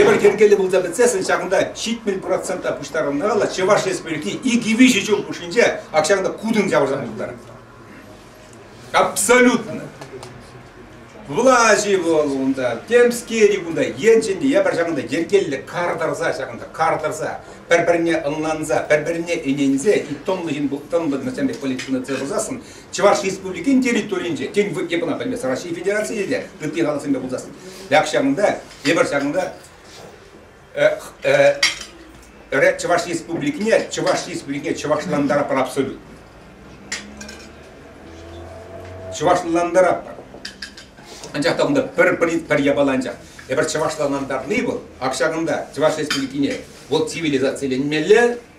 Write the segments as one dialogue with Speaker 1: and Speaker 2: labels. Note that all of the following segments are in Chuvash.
Speaker 1: Евӗр йӗркеллӗ пулса пӗтсессӗн ҫакӑнта ҫитмӗл процента пуҫтарӑнмалла Чӑваш Республики икӗ-виҫӗ ҫул хушшинче ҫакӑнта кутӑн ҫавӑрса путтарнӑ. Абсолютно. Влаҫи вӑл унта, темскери кунта, енчен ябар ҫакӑнта йӗркеллӗ кар тӑрса ҫакӑнта кар тӑрса, пӗр-пӗрне ӑнланса, пӗр-пӗрне ӗненсе, и тӑнлӑ ҫын тӑнлӑ пек политикӑна тытсассӑн Чӑваш Республикин территорийӗнче, тен, эпӗ пӗлместӗм, Россия Федерацийӗ те ытти халӑхсемпе пулсассӑн. Ак ҫакӑнта, эпир ҫакӑнта Чӑваш Республикине, Чӑваш Республикине чӑвашлантаратпӑр абсолютно. Чӑвашлантаратпӑр. Анчах та унта пӗр пӗр пӗр япала анчах. Эпир чӑвашлантарни вӑл, ак ҫакӑнта, Чӑваш Республикине, вӑл цивилизациленмелле,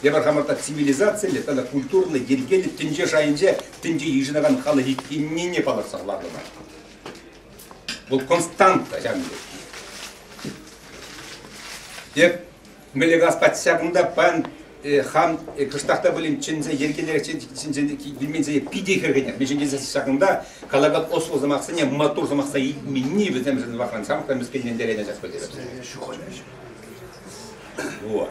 Speaker 1: Тепӗр хамӑр та цивилизациллӗ тата культурлӑ йӗркеллӗ тӗнче шайӗнче тӗнче йышӑнакан халӑх иккеннине палӑртса хӑварнӑ Вӑл константа ҫавӑн пек. Эп мӗле газпа ҫакӑнта пан э, хам э, кӑштахта пулин чӗнсе йӗркелерех вилменсе питӗ хӗрхенер. Мӗншӗн тесен ҫакӑнта калаган осло сӑмахсене матур сӑмахса илменни вӗсемшӗн вахран самка мӗскӗнлентерет ачас пӗлтерет. Вот.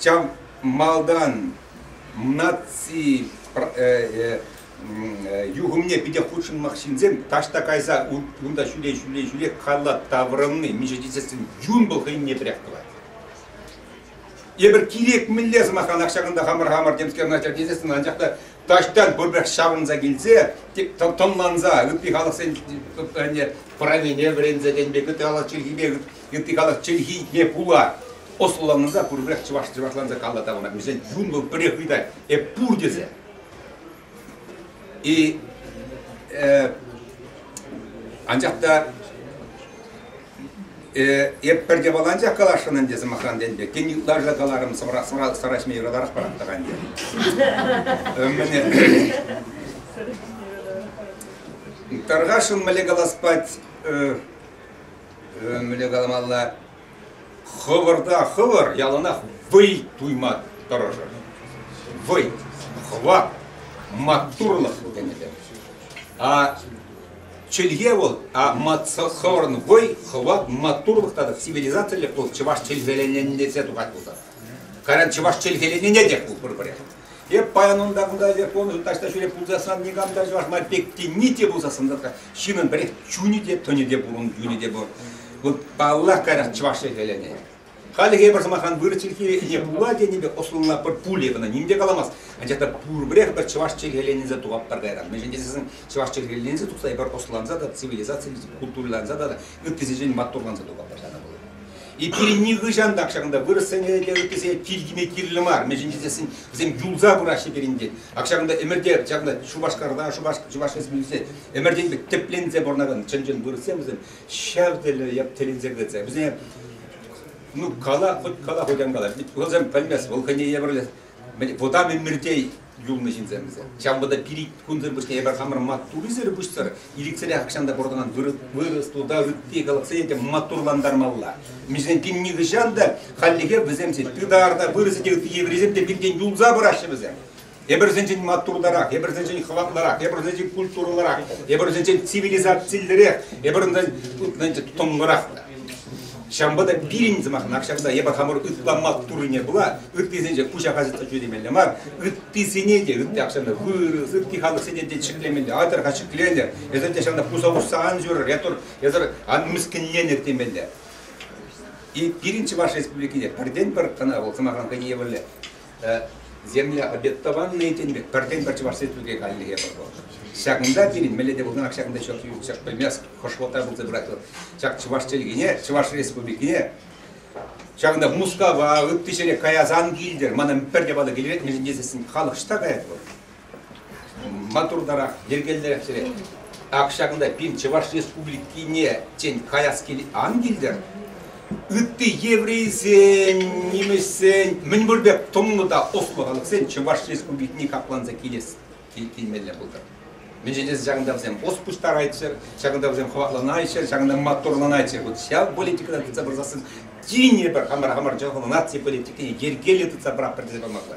Speaker 1: Чам малтан наци э, э, юхӑмне питӗ хутшӑнмах ҫынсем таҫта кайса унта ҫӳле ҫӳле ҫӳле калла таврӑнни миша тесессӗн юн пыл хӑйне пӗрех тӑвать. Эпир кирек мӗнле сӑмахран ак ҫакӑнта хамӑр-хамӑр темскер начар тесессӗн анчах та таҫтан пурпӗрех ҫаврӑнса килсе тӑнланса ытти халӑхсен парамене вӗренсе кен пек ытти халӑх чӗлхипе ытти халӑх чӗлхине пула ӑслӑланса пурпӗрех чӑваш чӑвашланса калла таврӑнать. Вӗсен юнлӑ пӗрех ыйтать, эп пур тесе. И э, анчах та э, эп пӗрте валанчах каласшӑн ӗнтӗ сӑмахран тенте. Тен ытларса каларӑм сӑмра сӑмра сараҫми юратарах паратта ӗнтӗ. Мене Таргашын мӗле калас пать, мӗне каламалла, хӑвӑрта хӑвӑр яланах вӑй туйма тӑрӑшӑр. Вӑй, хӑват, маттурлӑх тенӗ А чӗлхе вӑл, а хӑвӑрӑн вӑй, хӑват, маттурлӑх тата цивилизациллӗ пул чӑваш чӗлхеленӗнесе тухать пулсан. कारण чӑваш чӗлхеленине те пул пурпӗрех. Эп паян унта кунта эсир пурнӑҫӑн таҫта ҫӳре пулсассан никам та чӑваш май пек те ни те пулсассан затра ҫыннӑн пӗрех чунӗ те тӑнӗ те пур ун юнӗ те пур. Вот паллах кайран чӑваш ӗҫелӗне. Халӗ эпир сӑмахран вырӑс чӗлхи ӗне пула тенипе ӑслӑлла пӗр пулӗ кӑна ним те каламасть. Анчах та пурпӗрех пӗр чӑваш чӗлхеленӗнсе тухатпӑр кайран. Мӗншӗн тесен чӑваш чӗлхеленсе тухса эпир ӑсланса та, цивилизацилесе, культуриланса та, ыттисенчен маттурланса тухатпӑр ҫакӑн пулӑ. Эпир нихӑҫан та ҫакӑнта вырӑссене те ыттисене тир кӗме кирлӗ мар, мӗншӗн тесен вӗсем юлса пыраҫҫӗ пирӗнте. Ак ҫакӑнта ӗмӗрте ҫакӑнта Шупашкарта, Чӑваш Республикинче ӗмӗртен пек тӗпленсе пурӑнакан чӑн-чӑн вырӑссем вӗсем ҫав тӗле ят тӗлӗнсе кӗтсе вӗсене ну кала, хоть кала, хоть ан кала. Вӑл сем пӗлмест, вӑл хӑйне евӗрлӗ вӑтам ӗмӗрте юлнӑ ҫынсем вӗсем. Ҫавӑнпа та пир кунсӑр пуҫне эпир хамӑр маттуррисӗр пуҫсӑр ирӗксӗрех ахҫан та портӑнан вырӑс, туда, ытти халӑхсене те маттурлантармалла. Миҫен пин нихӑҫан та хальлӗхе вӗсемсен тытар та, вырӑсӗ те ытти еврейсем те пиртен юлса пыраҫҫӗ вӗсем. Эпирсенчен маттуртарах, эпирсенчен хӑватлӑрах, эпирсенчен культурӑлӑрах, эпирсенчен цивилизациллӗрех, эпирсенчен тӑнлӑрах. Ҫавӑнпа та пирӗн сӑмахӑнах ҫакӑнта эпир хамӑр ытла маттуррине пула ыттисенче куҫа касӑтса темелле мар, ыттисене те, ытти ахҫанна вырӑс, ытти халӑхсене те ҫӗклемелле, атӑрха ҫӗклелӗр, эсир те ҫавна пуса хушса ан ҫӳрӗр, ятур, эсир ан мӗскӗнленӗр темелле. И пирӗн Чӑваш Республикине пӗртен-пӗр кӑна вӑл сӑмахран хӑйне евӗрлӗ Земля обетованная тен пек пӗртен-пӗр Чӑваш Республики каллӗхе вӑл. Ҫакӑнта пирӗн мӗнле те пулнӑран ҫакӑнта ҫак ҫак пӗлмест хӑшвӑлта пулса пырать вӑл. Ҫак чӑваш чӗлхине, Чӑваш Республикине ҫакӑнта Мускава, ытти ҫӗре каясан килтӗр, манӑн пӗрте ватӑ килет, мӗншӗн тесессӗн халӑх ҫта каять вӑл. Маттуртарах, йӗркеллерех ҫӳре. Ак ҫакӑнта пин Чӑваш Республикине, тен, каяс кил ан килтӗр? Ытти еврейсен, нимӗҫсен мӗн пур пек тӑнлӑ та ӑслӑ халӑхсен Чӑваш Республикине капланса килес килмелле пултӑр. Мӗншӗн тесен ҫакӑнта вӗсем ӑс пуҫтарайччӑр, ҫакӑнта вӗсем хӑватланайччӑр, ҫакӑнта маттурланайччӑр. Вот ҫав политикӑна тытса пырсассӑн тин те пӗр хамӑр хамӑр чӑхӑн наци политикине йӗркеллӗ тытса пыратпӑр тесе памалла.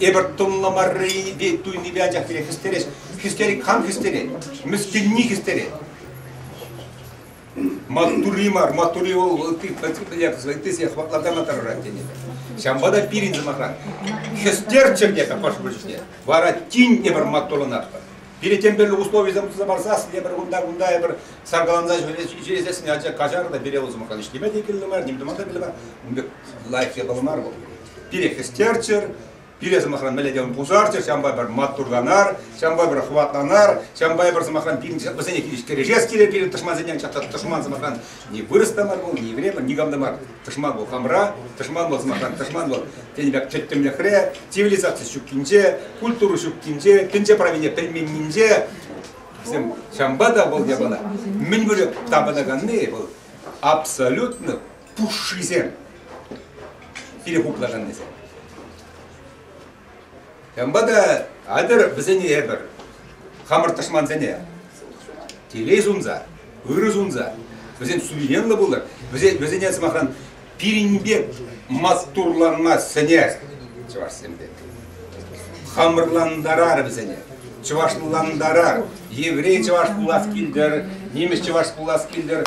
Speaker 1: Эпир тӑнлӑ маррипе туйнипе анчах кирек хӗстерес. Хӗстерет кам хӗстерет? Мӗскӗнни хӗстерет. Маттури мар, маттури вӑл ытти ытти хӑватлатана тӑрӑрать тенӗ. Ҫавӑнпа та пирӗн сӑмахран хӗстерччӗр тетӗп хӑш-пӗр чухне. Вара тин тепӗр маттуланатпӑр. Пире тем тӗрлӗ условисем туса парсас, тепӗр кунта-кунта эпир саркаланса ҫӳресессӗн, анчах каҫар та пире вӑл сӑмахран ӗҫтеме те кирлӗ мар, ним тума та кирлӗ мар. Ун пек лайӑх япала мар вӑл. пире хӗстерччӗр, пире, сӑмахран, мӗнле те пусарччӑр, ҫавӑнпа пӗр маттурланар, ҫавӑнпа пӗр хӑватланар, ҫавӑнпа пӗр, сӑмахран, вӗсене хирӗҫ кӗрешес килет пирӗн тӑшмансенчен. Ҫак тӑшман, сӑмахран, ни вырӑс та мар пуль, ни еврей пуль, никам та мар. Тӑшман вӑл хамра, тӑшман вӑл, сӑмахран, тӑшман вӑл тенӗ пек тӗттӗмлӗхре, цивилизаци ҫуккинче, культура ҫуккинче, тӗнче правине пӗлменнинче. Вӗсем ҫавӑнпа та вӑл япала мӗн вырӑн тапӑнаканни вӑл абсолютно пушшисем. Кире хуплашан тесе. Ҫавӑнпа та атӑр вӗсене эпӗр хамӑр тӑшмансене телей сунса, ырӑ сунса, вӗсем суверенлӑ пулӑр, вӗсен, вӗсене сӑмахран пирӗнпе маттурланма сӗнер чӑвашсемпе. Хамӑрлантарар вӗсене, чӑвашлантарар. Еврей чӑваш пулас килтӗр, нимӗҫ чӑваш пулас килтӗр,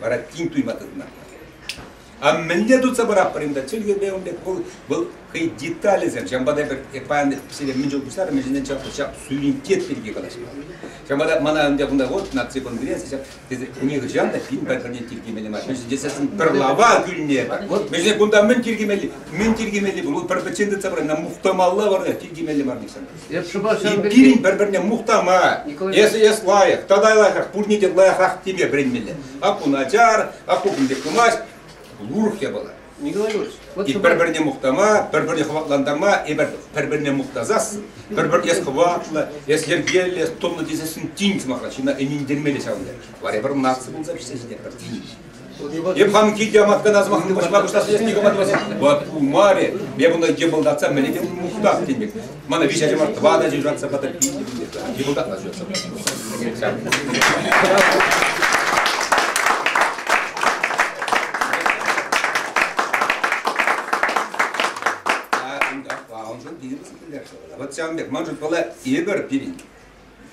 Speaker 1: вара тин туйма тытӑнатпӑр. А мӗнле тытса паратпӑр унта? Чӗлхепе ун пек вӑл, вӑл хӑй деталӗсем. Ҫавӑнпа та эпир паян сире мӗн чул пуҫларӑм, ҫынсен ҫак ҫак суверенитет пирки калаҫма. Ҫавӑнпа та мана унта кунта вот наци конгресс, ҫак нихӑҫан та пин пӗрне тиркемелле мар. Мӗншӗн тесен пӗр лава кӳлнӗ. Вот мӗншӗн кунта мӗн тиркемелли, мӗн тиркемелли пур? Пӗр пӗччен тытса пырать, нам мухтамалла бар, тиркемелле мар нихҫан. Пирӗн пӗр-пӗрне мухтама, эс эс лайӑх, тата лайӑхах, пурне те лайӑхах теме вӗренмелле. Аппу начар, аппу кун пек пымасть, урӑх япала. Николай Григорьевич, вот И пӗр-пӗрне мухтама, пӗр-пӗрне хӑватлантарма, эпир пӗр-пӗрне мухтасассӑн, пӗр-пӗр эс хӑватлӑ, эс йӗркеллӗ, тӑнлӑ тесессӗн тин сӑмахра ҫынна ӗнентермелле ҫавӑн пек. Вара пӗр наци пулса пӗҫсе ҫитетпӗр, тин. Эп хам килте маткана сӑмахне пуҫма пуҫласа никама тӑвасам. Вот умарӗ, я буду деболдаться, мне где мухтах денег. Мана виҫӗ ача мар, тӑватӑ ача жратса потопили. Деболдат начнется. Вот сам бек, манжут была Игорь пирин.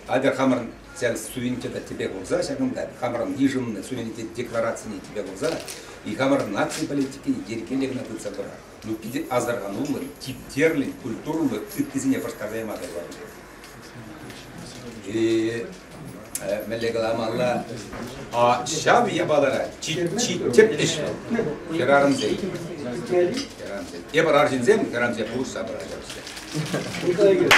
Speaker 1: Атя хамӑрӑн ҫав суверенитета тӗпе хурса ҫакӑнта хамӑрӑн йышӑннӑ суверенитет декларацине тӗпе хурса и хамӑрӑн наци политикине йӗркеллӗ кӑна тытса пырар. Ну питӗ асӑрхануллӑн, типтерлӗн, культурӑллӑ ыттисене пӑштарса яма тӑрла пулать. Мӗнле каламалла? А ҫав япалара чи тӗплӗҫ хӗрарӑмсен. Хӗрарӑмсен. Эпир арҫынсем хӗрарӑмсем пулӑшса пыраҫҫӗ.